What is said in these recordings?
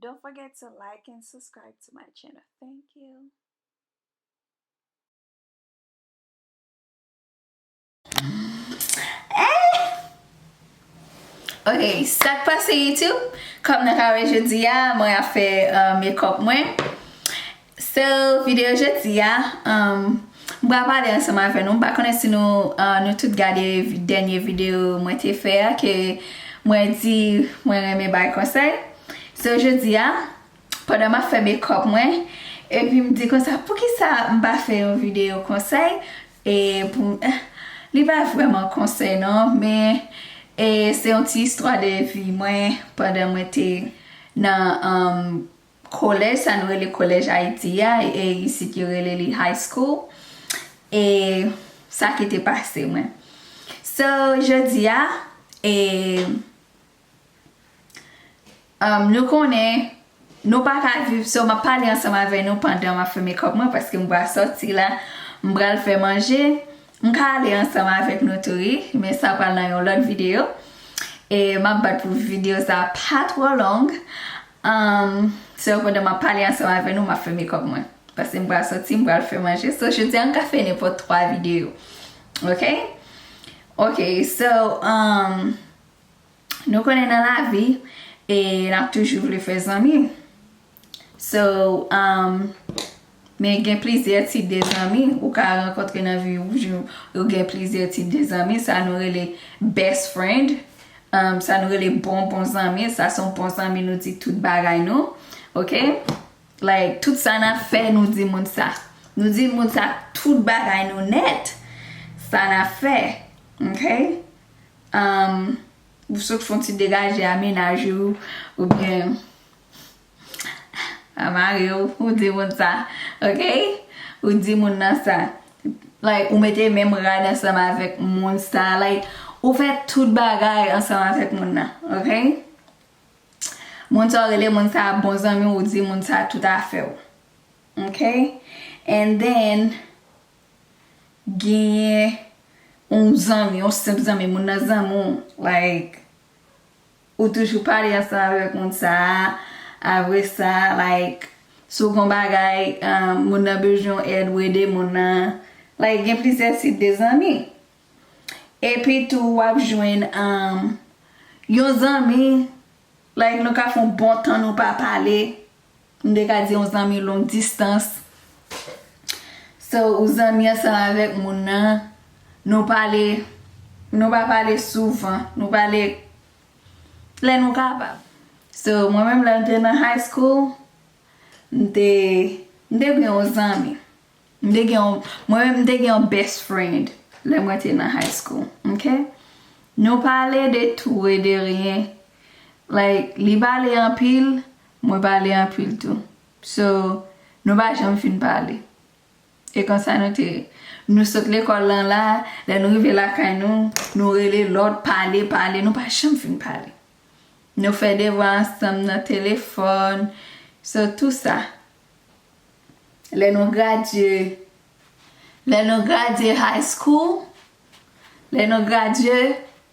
Don't forget to like and subscribe to my channel. Thank you. Ok, sak pase YouTube, kom nan kare jodi a, mwen a fe euh, make up mwen. So video jodi a m pral pale ansanm avè nou m pa konnen si nou tout gade dènye video mwen te fè a ke mwen di mwen renmen bay konsèy so jodi a pandan map fè mekòp mwen epi m di konsa poukisa m pa fè yon video konsèy e pou m li pa vrèman konsèy nan men e se yon ti istwa de vi mwen pandan mwen te nan Kolèj sa nou rele kolèj Ayiti a, e isit yo rele li high school, e sa ki te pase mwen. So, jodi a, e, um, nou konnen, nou pa ka viv, so map pale ansanm avè nou pandan map fè makeup mwen paske m va sòti la, m pral fè manje, M ka ale ansanm avèk nou tou wi, men sa pral nan yon lòt videyo. E m ap bat pou videyo sa a pa twò long. So pandan m ap pale ansanm avè nou, m ap fè mekòp mwen. Pase m pral soti, m pral fè manje. So jodi a m ka fè nenpòt twa videyo. Ok? Ok, so nou konnen nan lavi e n ap toujou vle fè zanmi. So umm men gen plizyè tip de zanmi ou ka rankontre nan vi ou jou ou gen plizyè tip de zanmi sa nou rele best friend umm sa nou rele bon bon zanmi sa son bon zanmi nou di tout bagay nou ok like tout sa na fè nou di moun sa nou di moun sa tout bagay nou nèt sa na fè ok umm ou sot fon ti degaje a menaj ou oubyen Mwen mare w pou w di moun sa ok ou di moun nan sa like ou mete menm rad ansanm avèk moun sa like ou fè tout bagay ansanm avèk moun nan ok moun sa w rele moun sa bon zanmi w ou di moun sa tout afè w ok and then genyen yon zanmi yon senp zanmi moun nan zanmi w like. Ou toujou pale ansanm avèk moun sa a avre sa like si w gon bagay moun nan bezwen yon èd ou ede moun nan like gen plizyè tip de zanmi epi tou wap jwenn yon zanmi like nou ka fè yon bon tan nou pa pale M te ka di yon zanmi long distans. So, ou zanmi ansanm avèk moun nan, nou pale, nou pa pale souvan, nou pale lè nou kapab. So, mwen menm lè m te nan high school, m te, m te gen yon zanmi. M te gen yon, mwen menm m te gen yon best friend lè mwen te nan high school, ok? Nou pale de tou e de ryen. Like, li pale anpil, Mwen pale anpil tou. So, nou pa janm fin pale. E konsa nou te ye. Nou sot lekòl lan la, lè nou rive lakay nou, nou rele lòt, pale, pale, nou pa janm fin pale. Nou fè devwa ansanm nan telefòn, so tou sa. Lè nou gradye, lè nou gradye high school, Lè nou gradye,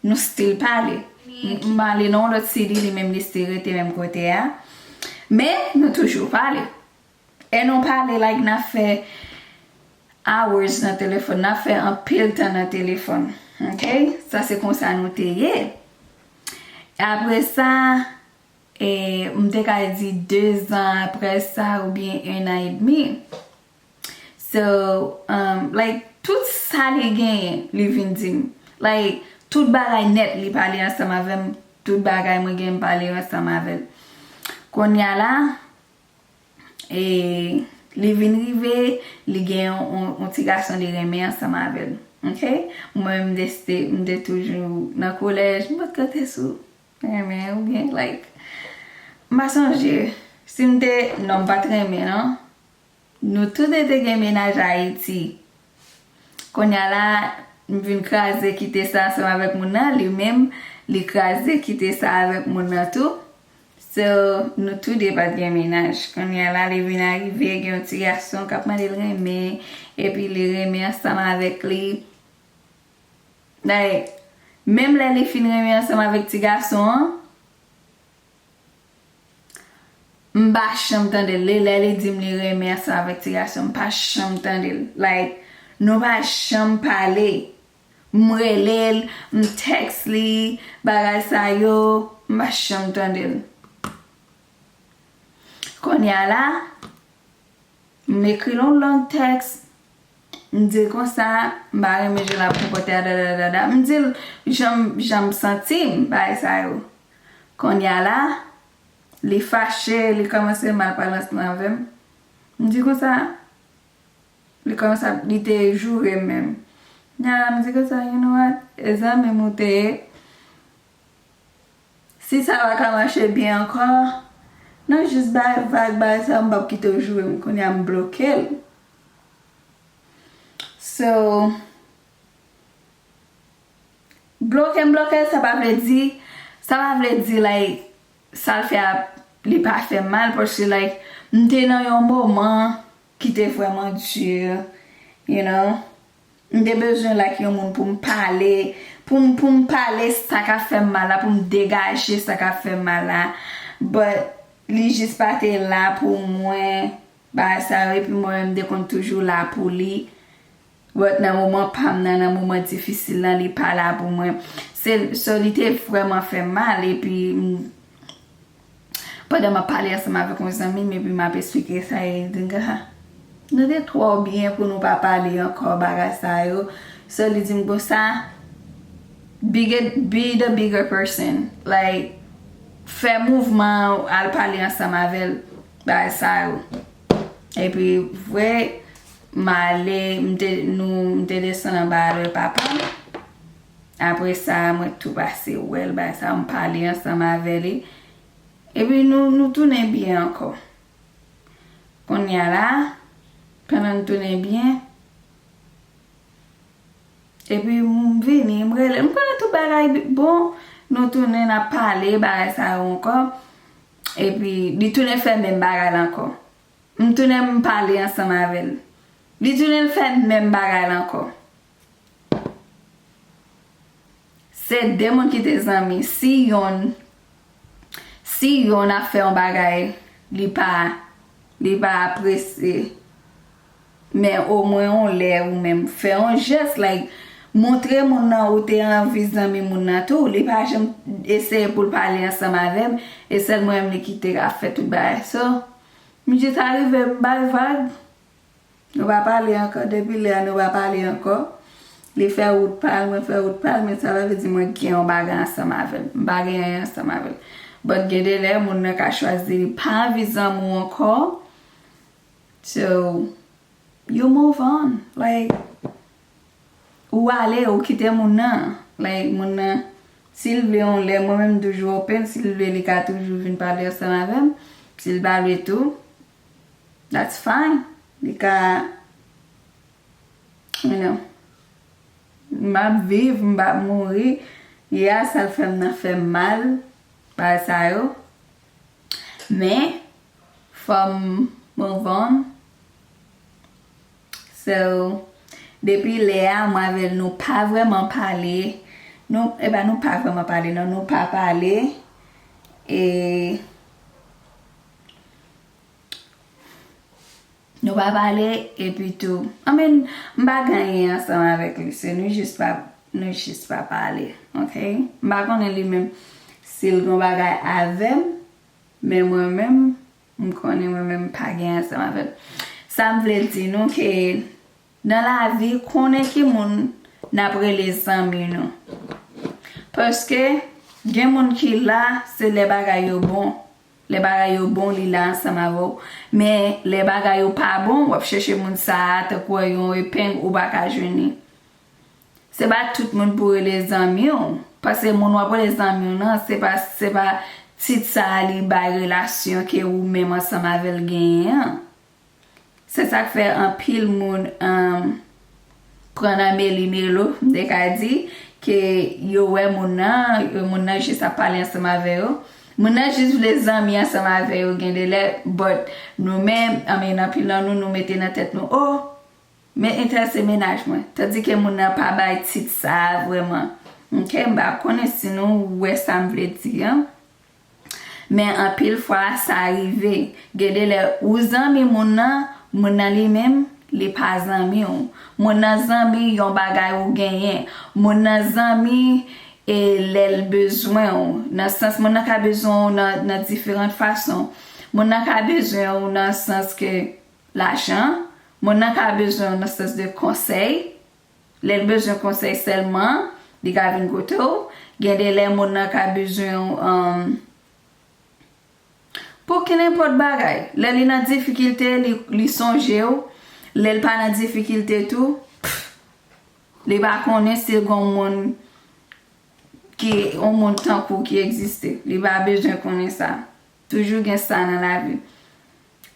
nou stil pale. M male nan yon lòt sidi, li menm li stil rete menm kote a. Men, nou toujou pale. E nou pale like n ap fè hours nan telefòn. N ap fè anpil tan nan telefòn. Ok? Sa se konsa nou te ye. Apre sa, e m te ka di dezan apre sa oubyen enan edmi. So um like tout sa li genyen li vin dim like tout bagay nèt li pale ansanm avèm tout bagay mwen genyen m pale yo ansanm avèl konnya la e li vin rive li gen yon ti gason li renmen ansanm avèl ok mwen m deside m te toujou nan kolèj m pat konte sou renmen ou byen like m pa sonje si m te non m pat renmen nan Nou tou 2 te gen mennaj Ayiti. Konnya la, m vin kraze kite sa ansanm avèk moun nan, li menm, li kraze kite sa avèk moun nan tou. So, nou tou 2 pa t gen mennaj. Konnya la, li vin arive gen yon ti gason k ap mande l renmen, epi li renmen ansanm avèk li. Like, menm lè li fin renmen ansanm avèk ti gason an, M pa janm tandel li lè li dim li renmen ansanm avèk ti gason m pa janm tandel like nou pa janm pale m relel m tex li bagay sa yo m pa janm tandel konnya la m ekril on long tex m dil konsa m pa renmen jan lap konpòte a dadadadada m dil janm janm santim bagay sa yo. Konnya la, li fache, li kòmanse malpalans lan avè m. M di konsa, li kòmanse ap, li te joure m menm. Konnya la m di konsa, you know what, e zanmi m ou te ye, si sa pa ka mache byen ankò, nou jis bay vag, bay sa, m p ap kite w joure m. Konnya m bloke l. So, Blokem blokel sa pa vle di sa pa vle di like sal fè a li pa fèm mal paske like m te nan yon moman ki te vrèman dur you know m te bezwen like yon moun poum pale poum poum pale sa kap fèm mal la poum degaje sa kap fèm mal la but li jis pa te la pou mwen bagay sa yo epi mwen menm m te konn toujou la pou li But nan moman pam nan nan moman difisil lan li pa la pou mwen se so li te vreman fem mal epi m pandan map pale ansanm avek yon zanmim epi map esplike sa e li dim ah nou te tro byen pou nou pa pale anko bagay sa yo so li dim konsa be the bigger person like fe mouvman al pale ansanm avel bagay sa yo epi vre. M ale, m te nou, m te desann anba a lwe papa m. Apre sa, mwen tou pase wè l, bay sa, m pale ansanm avè li. E pi nou, nou tounen byen ankò. Kounye a la, pandan n tounen byen, e pi m vini, m rele l, m konnen tout bagay bon. Nou tounen, n ap pale, bagay sa yo ankò. E pi, li tounen fè menm bagay la ankò. M tounen m pale ansanm avè l. Li tounen l fè menm bagay la ankò. Se de moun ki te zanmi. Si yonn si yonn ap fè yon bagay li pa li pa apresye. Men o mwen yon lè ou menm fè yon jès like montre moun nan ou te anvi zanmi moun nan tou li pa janm eseye poul pale ansanm avèm e sèl mwen menm li kite ap fè tout bagay so misye sa rive m bal vag nou pa pale ankò depi lè a nou pa pale ankò li fè wout pal mwen fè wout pal men sa pa vle di mwen gen yon bagay ansanm avèl m pa gen anyen ansanm avèl but gen de lè moun nan ka chwazi li pa anvi zanmi w ankò. So you move on like ou ale ou kite moun nan like moun nan sil vle yon lè mwen menm m toujou open sil vle li ka toujou vin pale ansanm avèm sil pa vle tou that's fine li ka you know map viv m pap mouri ya sal fèm nan fèm mal bagay sa yo men Fom move on So depi lè a mwen avèl nou pa vrèman pale Nou epa nou pa vrèman pale nan nou pa pale E Nou pa pale epi tou I mean m pa gen anyen ansanm avèk li se nou jis pa nou jis pa pale ok m pa konnen li menm sil gen yon bagay avèm. Men mwen menm, m konnen mwen menm m pa gen ansanm avè l. Sa m vle di nou ke nan lavi konnen ki moun n ap rele zanmi nou. Paske gen moun ki la se lè bagay yo bon. Lè bagay yo bon li la ansanm avè w. Men lè bagay yo pa bon w ap chèche moun sa a tankou yon epeng ou pa ka jwenn li. Se pa tout moun pou rele zanmi w, paske moun wap rele zanmi w nan se pa se pa tit sa a li bay relasyon ke ou menm ansanm avè l genyen an. Se sak fè anpil moun pran nan meli melo m te ka di ke yo wè moun nan, moun nan jis ap pale ansanm avè yo, moun nan jis vle zanmi ansanm avè yo gen de lè but nou menm I mean anpil nan nou nou mete nan tèt nou oh Men Inter se mennaj mwen. Tandike moun nan pa bay tit sa vrèman. Ok, m pa konnen si nou wè sa m vle di an. Men anpil fwa sa rive. Gen de lè ou zanmi moun nan, moun nan li menm, li pa zanmi w. Moun nan zanmi yon bagay ou genyen. Moun nan zanmi e lè l bezwen w. Nan sans moun nan ka bezwen w nan diferant fason. Moun nan ka bezwen w nan sans ke. Lajan, Moun nan ka bezwen w nan sans de konsèy. Lè l bezwen konsèy sèlman, li ka vin kote w. Gen de lè moun nan ka bezwen w pou kenenpòt bagay. Lè li nan difikilte, li sonje w. Lè l pa nan difikilte tou, li pa konnen si gen yon moun ki, yon moun tankou w ki egziste. Li pa bezwen konnen sa. Toujou gen sa nan lavi.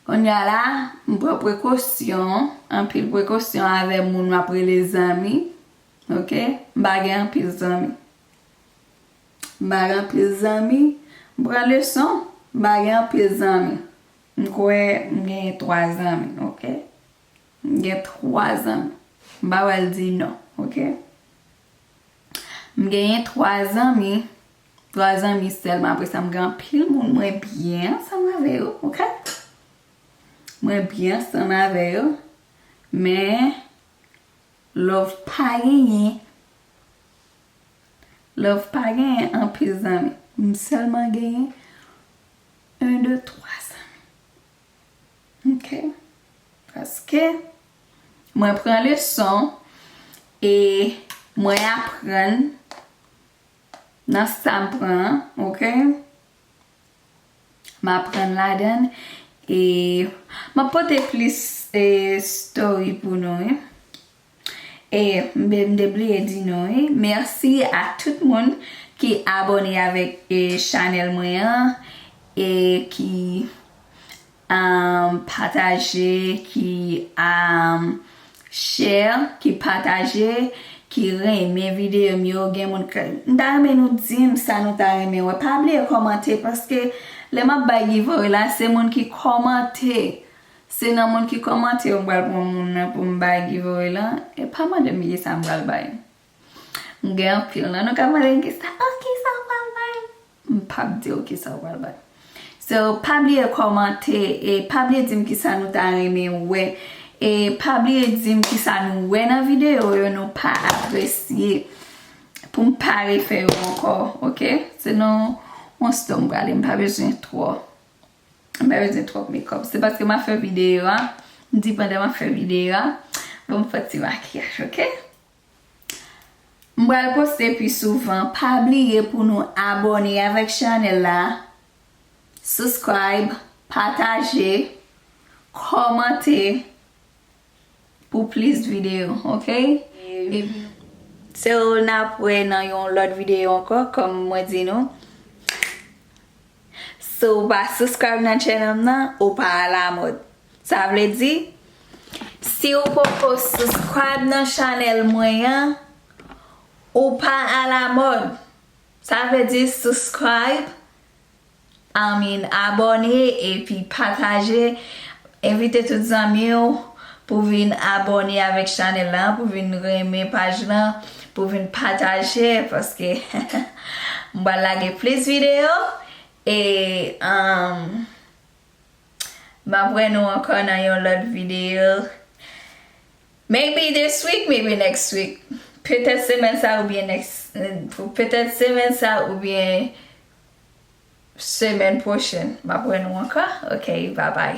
Kounye a la, m pran prekosyon, anpil prekosyon avè moun m ap rele zanmi. Ok. M pa gen anpil zanmi. M pa gen anpil zanmi. M pran leson. M pa gen anpil zanmi. M kwè m genyen 3 zanmi. Ok. M gen 3 zanmi. M pa pral di non. Ok. M genyen 3 zanmi. 3 zanmi sèlman apre sa m gen anpil moun mwen byen ansanm avè yo ok mwen byen ansanm avè yo men love pa genyen love pa genyen anpil zanmi m sèlman genyen 1 2 3 zanmi ok paske mwen pran leson e mwen aprann Nan sa m pran an ok. M aprann ladan e m ap pote plis story pou nou wi. E m te bliye di nou wi mèsi a tout moun ki abone avèk chanèl mwen an e ki Pataje ki Share ki pataje ki renmen videyo m yo gen moun k m ta renmen nou dim sa nou ta renmen wè pa bliye kòmante paske lè map bay giveaway la se moun ki kòmante se nan moun ki kòmante yo m pral pran moun nan pou m bay giveaway lan e pa mande m kisa m pral bay. M gen anpil non nou ka pale m kisa oh kisa ou pral bay m pap diw kisa ou pral bay so pa bliye kòmante e pa bliye dim kisa nou ta renmen wè e pa bliye dim kisa nou wè nan videyo yo nou pa apresye pou m pa refè yo ankò ok se nan yon sto m prale m pa bezwen twò m pa bezwen twòp mekòp se paske ma fè videyo a m di pandan ma fè videyo a bon m fè ti makiyaj ok. M pral poste pi souvan pa bliye pou nou abone avèk chanèl la subscribe pataje kòmante pou plis video ok epi so nap wè nan yon lòt video ankò kòm mwen di nou. Si w pa subscribe nan channel m nan, ou pa a la mod. Sa vle di, si w poko subscribe nan channel mwen an, ou pa a la mod. Sa vle di subscribe, I mean abone epi pataje Envite tout zanmi w pou vin abòne avèk chanèl lan, pou vin renmen paj lan, pou vin pataje paske m pral lage plis videyo e m ap wè nou ankò nan yon lòt videyo maybe this week maybe next week petèt semèn sa oubyen next petèt semèn sa oubyen semèn pwochèn m ap wè nou ankò ok bye bye.